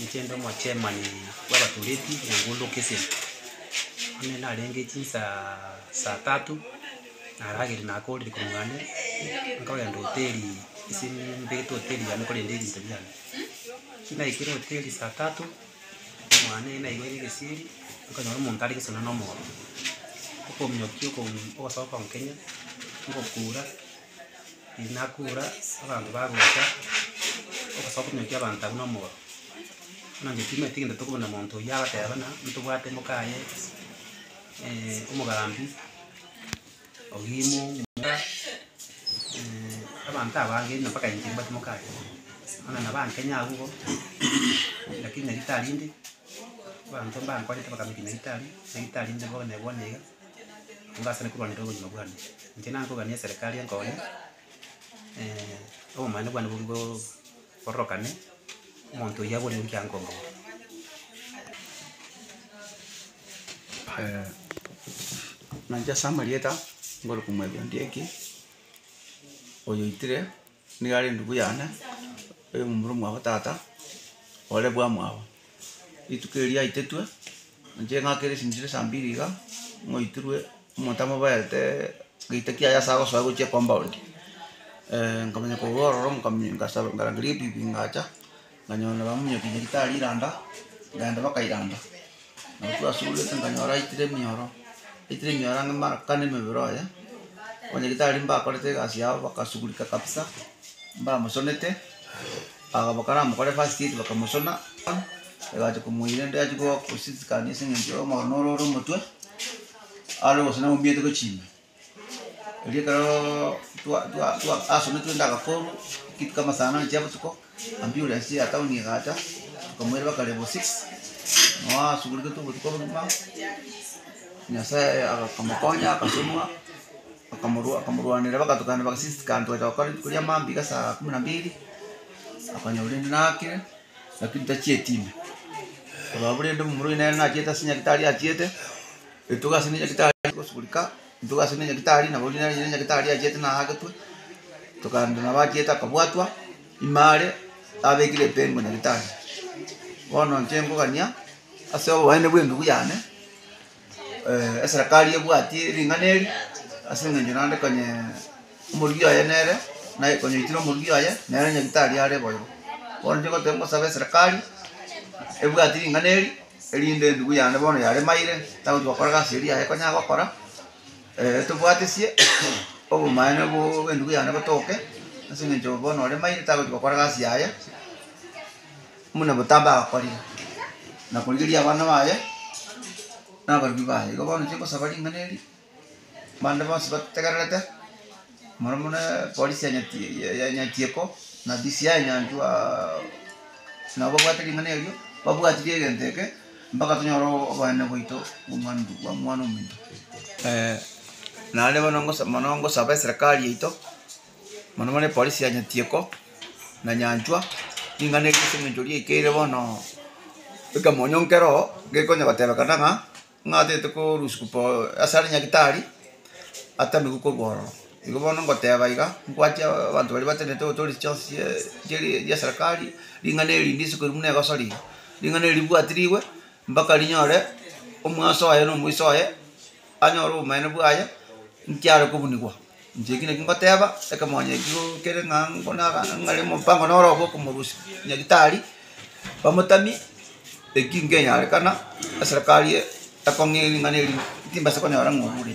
Inche inde omochemani bw'abatoreti engundo Kisii. Buna narenge chinsaa saa tatu, narageire nakorire korwa ande, nkagenda hoteli ase nimbegete hoteli yane korende ebinto biane. Ekero naikire hoteli saa tatu, mwane eye naiboire egesieri, nkanyora omonto are gesona na omooro. Okominyokia okosoka gonkenya, ngokura. Inakura abanto bagocha ogosoa komioka y'abanto abwo na omoro, buna intwe timanyeti gento tokobuna monto oyio abateba buna ntobwate moka aye omogambi, ogimu, muga abanto aba abange onye mpaka inche nimbwate moka aye. Buna nabo aa Kenya abwo igo, lakini nyagetari inde, abanto mbankwanete bakamenya nyagetari, nyagetari inde bono bono iga. Mbasane korwanera obogima bwane. Inche nankoganie eserekari enkonye, obomani bwane bobe bo bororokane, omonto oyio abore eki ankombora. nainche ase amarieta, ngore komwebundia eki, oyoitire. Nigo are endubu yane, oyomomura omwabo tata, ore bwamwabo. Rituko erio yaitetwe, inche eng'ake ere esinchiro saa mbiri iga, ng'oitirwe omonto amoberete gete kiaye ase agosoa gochia ekompaondi, nkamanya korwa ororo nkamia ngasaba ngarangeria ebibi ngacha. Nkanyora nabamunyokia nyaritari iranda, nkaenda bakairanda. Nabo twasuguregete nkanyora aitire emioro, aitire emioro ang'e mara kane emebere oye, abanyaritari mbakorete egasi yabo bagasugurika kabisa, mbamosonete, aba bakaramokore first aid bakamosona, egachia komoira ende achia goa kosisikani ase eng'encho omoro noro ore omotwe, are gosana mominyote gochia ime. Erio ekero twa- twa- twa- asomire twende agafomu, ekituko ama saa nane chia botuko, ambulansi ya town egacha, tokamoiraba kare bo six, nabo asugurigete obotuko bogima, Nyasaye akamokonya akasomoa, akamorwa akamorwanera bagatokana bagasist kare togacha gokora rituko ria mambia saa kumi na mbili, akonyora rende nakire, lakini tachieti ime, ororo rende momura oyo nere nachiete ase nyagetari achiete. Etugo ase Nyagetari ase gosugurika, Etugo ase Nyagetari, na boria nere Nyagetari achiete naagetwe, Tokando nabo achiete akabwatwa ime are, Abekire epengo Nyagetari. Bono inche nkogania ase obobaene bw'emeguo yane, Eserakari ebwati ring'ana eri, ase engencho naande konya. Omorugi oye nere naye konyoitire omorugi oye, nere nyagetari are boigo. Bono nigoteba ngosabe eserekari ebwati ring'ana eri, erinde endubu yane bono yaremaire tagochi gokora egasi eria yaye ekonyara gokora, tobwatisie obomaene bo bw'endubu yane botoke, ase eng'encho bono oremaire tagochi gokora egasi yaye buna botambe agakorire, na korigereria abana baye na abarwri baye. Igo bono inche ngosaba ring'ana eri. Bande bonsi bategererete, moro mone polisi ya Nyati ya Nyatieko, na DCI Nyantu aa nabo babwate ring'ana erio, babwatirie egento eke mpaka tonyore o- o- obonene bwaito bwa omwana obo bwa omwana omonto. naende bono ngosa mono ngosaba eserekari yaito, mono mono epolisi ya Nyatieko na Nyanchwa, ring'ana eri ase eng'encho riaikeire bono ekamonyonkere oo, ngekonya gotebekana ng'a. Ng'a atagete korusiku po ase are Nyagetari, atamigwe korwa ororo. Igo bono ngoteba iga, ngwache abanto baria batenenete gotoria chionsi chie chieri chia serikari, ring'ana eri rinde isiko eri buna egosori, ring'ana eri ribuatirigwe mpaka rinyore omwaso oye na omoiso oye anyore obomaene bwaye nkiare kobunigwa. Inche eki nakio ngoteba, ekemonya ekio kere ng'a ng'are omopango noro obo okomorusia Nyagetari bamotamie, eki nkenyarekana eserekari ekong'e ring'ana eri timbasa konyora ng'a orure.